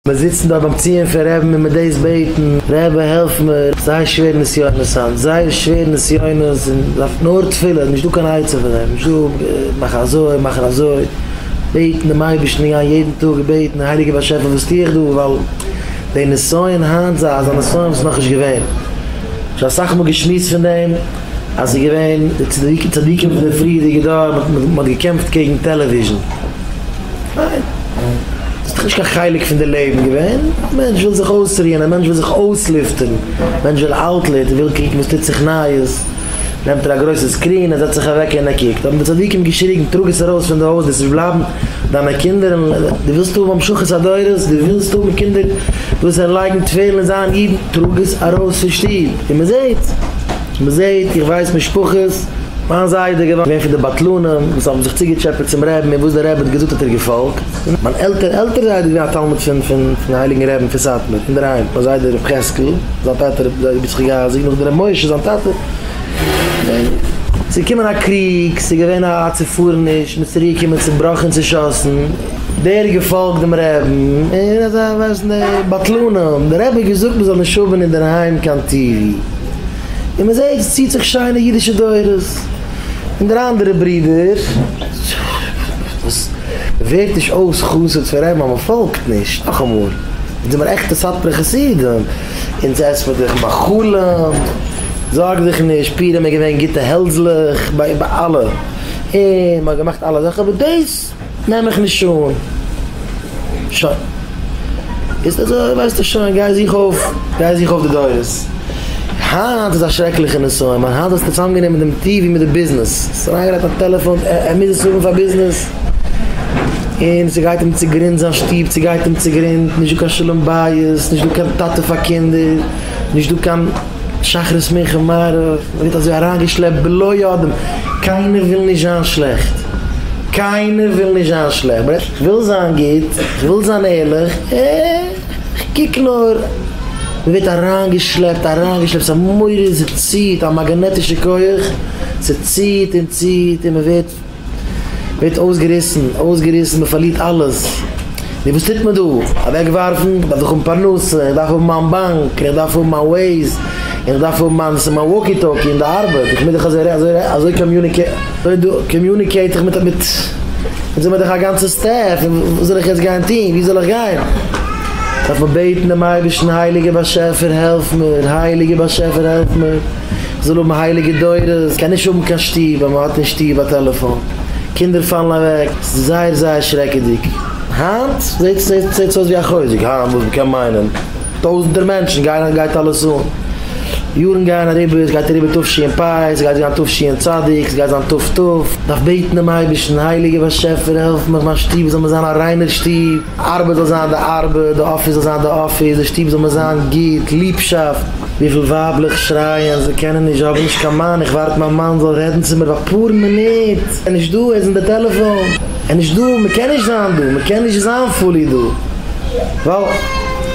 מיר זיצן דארט ביים ציון פון רעבן און מיט דאס בעטן, רעבע העלף מיר, זייער שווער נסיונות היינט, זייער שווער נסיונות און דארף נאר תפילה, נישט דא קיין עצה פון דעם, נישט דא מאך אזוי מאך אזוי, בעטן דעם אייבערשטן און גיין יעדן טאג און בעטן, הייליגער באשעפער וואס טו איך דא, ווייל די נסיון היינט זיי אזא נסיון וואס איז נאכנישט געווען, שוין אסאך מאל געשמועסט פון דעם. אז ס'איז געווען די צדיקי צדיקים פון די פריערדיגע דור, מען האט געקעמפט קעגן טעלעוויזשן, פיין, ס'איז דאך נישט קיין חלק פון די לעבן געווען, א מענטש וויל זיך אויסרוען, א מענטש וויל זיך אויסלופטערן, א מענטש וויל אוטלעט, ער וויל קוקן וואס טוט זיך נייעס, נעמט ער א גרויסע סקרין, ער זעצט זיך אוועק און ער קוקט, האבן די צדיקים געשריגן, טראג עס ארויס פון די הויז, דאס וועט בלייבן דיינע קינדער, דו ווילסט האבן המשכת הדורות, דו ווילסט האבן קינדער. וואס זיי לייגן תפילין זיין אידן טראג עס ארויס פון שטוב און מען זעט מען זעט איך ווייס משפחות מיין זיידע איז געווען פון די בטלנים וואס האבן זיך צוגעטשעפעט צום רעבין און וואס דער רעבין האט געזאגט האט ער געפאלגט און מיין עלטער עלטער זיידע איז געווען א תלמיד פון פון די הייליגן רעבין פון סאטמאר אינדערהיים מיין זיידע ר' חזקל זיין טאטע רבי דוד יצחק אייזיק נאכדעם רבי משה זיין טאטע און ס'איז געקומען א קריג ס'איז געווען א צופארעניש מ'איז צוריק געקומען צובראכן צושאסן. דער האט געפאלגט דעם רעבען און אזא ווייסן די בטלנים, דער רבי האט געזאגט מען זאל נישט האבען אינדערהיים קיין טיווי, און מען זעהט עס ציט זיך שיינע אידישע דורות, און דער אנדערע ברודער וואס ווערט נישט אויס חסיד פון רעבען ווייל מען פאלגט נישט, נאכאמאל אונז זעמער עכטע סאטמארע חסידים, אונז עסט מען דורך מאכלים, זארג דיך נישט, פורים איז געווען גוטע העלדזלעך ביי אלע, און מען האט געמאכט אלע זאכען, אבער דאס. נעם מיך נישט אן. שוין. ביסט אזוי ווייסטו שוין, גיי זוך אויף, גיי זוך אויף די דורות. היינט איז א שרעקליכע נסיון, ווייל היינט האסטו צוזאמגענומען דעם טי ווי מיט די ביזנעס. האסט אריינגעלייגט א טעלעפאן, ער מוז עס האבן פאר ביזנעס. און ס'גייט אים צוגרינד זיין שטוב, ס'גייט אים צוגרינד, נישט דא קיין שלום בית, נישט דא קיין טאטע פאר קינדער, נישט דא קיין. שחרית מנחה מעריב מען ווערט אזוי אריינגעשלעפט בלא יודעים, קיינער וויל נישט זיין שלעכט, קיינער וויל נישט זיין שלעכט, איך וויל זיין גוט, איך וויל זיין ערליך, איך קוק נאר, מען ווערט אריינגעשלעפט אריינגעשלעפט, ס'איז א מורא, ס'ציט, א מאגאנעטישע כח, ס'ציט און ציט און מען ווערט. ווערט אויסגעריסן, אויסגעריסן, מען פארלירט אלעס, נו וואס טוט מען דא? אוועק ווארפן? דארף איך האבן פרנסה, איך דארף האבן מיין באנק, איך דארף האבן מיין וועיז, איך דארף האבן מיין וואקי טאקי אין די ארבעט, איך מוז דאך אזוי אזוי אזוי קאמיוניקעיט איך מיט מיט אונז האבן מיר דאך א גאנצע סטעף, און וואס זאל איך יעצט גיין טון? וואו זאל איך גיין? דארף מען בעטן דעם אייבערשטן, הייליגער באשעפער העלף מיר, הייליגער באשעפער העלף מיר. זאל האבן הייליגע דורות, קען נישט האבן קיין שטוב ווען מ'האט אין שטוב א טעלעפאן, קינדער פאלן אוועק, ס'איז זייער זייער שרעקעדיג, היינט זעהט עס אויס ווי א חוזק, היינט וואס מ'קען מיינען, טויזענטער מענטשן גייען, גייט אלעס אן, יארן גייען אריבער, ס'גייט אריבער תשי ע פ, ס'גייט זיין תשי ע צדיק, ס'גייט זיין תפ ט, דארף בעטן דעם אייבערשטן, הייליגער באשעפער העלף מיך מיין שטוב זאל מיר זיין א ריינער שטוב. ארבעט זאל זיין די ארבעט, די אפיס זאל זיין די אפיס, די שטוב זאל מיר זיין גוט, ליבשאפט, וויפיל ווייבלעך שרייען זיי קענען נישט, זיי האבן נישט קיין מאן, איך ווארט מיין מאן זאל רעדן צו מיר אפאר מינוט, ער איז נישט דא, ער איז אין די טעלעפאן, ער איז נישט דא, מען קען נישט זיין דא, מען קען נישט זיין פולי דא, ווייל.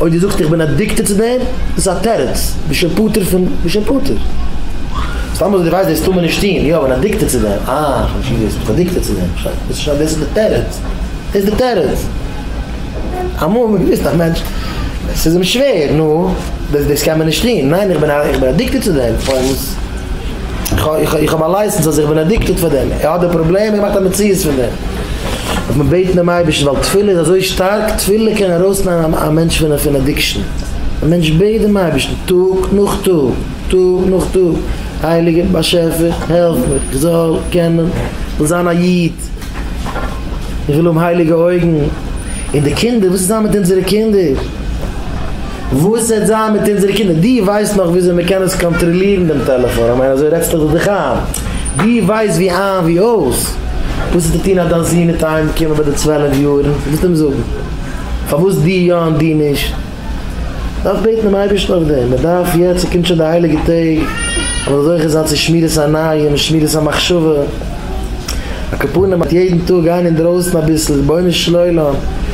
אויב דו זאגסט איך בין אדיקטעד צו דעם, דאס איז א תירוץ, בשם פטור פון בשם פטור. סתם אזוי דו ווייסט דאס טאר מען נישט טון, יא איך בין אדיקטעד צו דעם, אה איך האב נישט געוואוסט ביסט אדיקטעד צו דעם, שוין דאס איז שוין דאס איז די תירוץ, דאס איז די תירוץ. אמאל האט מען געוויסט א מענטש עס איז אים שווער, נו, דאס דאס קען מען נישט טון, ניין איך בין איך בין אדיקטעד צו דעם, פארוואס איך איך איך האב א לייסענס אז איך בין אדיקטעד פאר דעם, ער האט די פראבלעם, ער מאכט א מציאות פון דעם. דארף מען בעטן דעם אייבערשטן ווייל תפילה איז אזוי שטארק, תפילה קען ארויסנעמען א מענטש פון פון אדיקשאן, א מענטש בעט דעם אייבערשטן טאג נאך טאג, טאג נאך טאג, הייליגער באשעפער העלף מיר איך זאל קענען, איך וויל זיין א איד, איך וויל האבן הייליגע אויגן, און די קינדער וואס איז זיין מיט אונזערע קינדער? וואס העט זיין מיט אונזערע קינדער? דו ווייסט נאך וויאזוי מען קען עס קאנטראלירן דעם טעלעפאן? כ'מיין אזוי רעדסטעך דאך דיך איין? דו ווייסט ווי איין ווי אויס וואס ס'טוט אהן אז דיין זון וועט אהיים קומען ביי די צוועלף יארן? דו וועסט אים זאגן פארוואס דו יא און דו נישט? מ'דארף בעטן דעם אייבערשטן אויף דעם, מ'דארף יעצט, ס'קומט שוין די הייליגע טעג, מ'זאל זוכה זיין צו שמירת עיניים און שמירת המחשבה, אקעפארן מיט יעדן טאג גיין אינדרויסן אביסל, רבונו של עולם,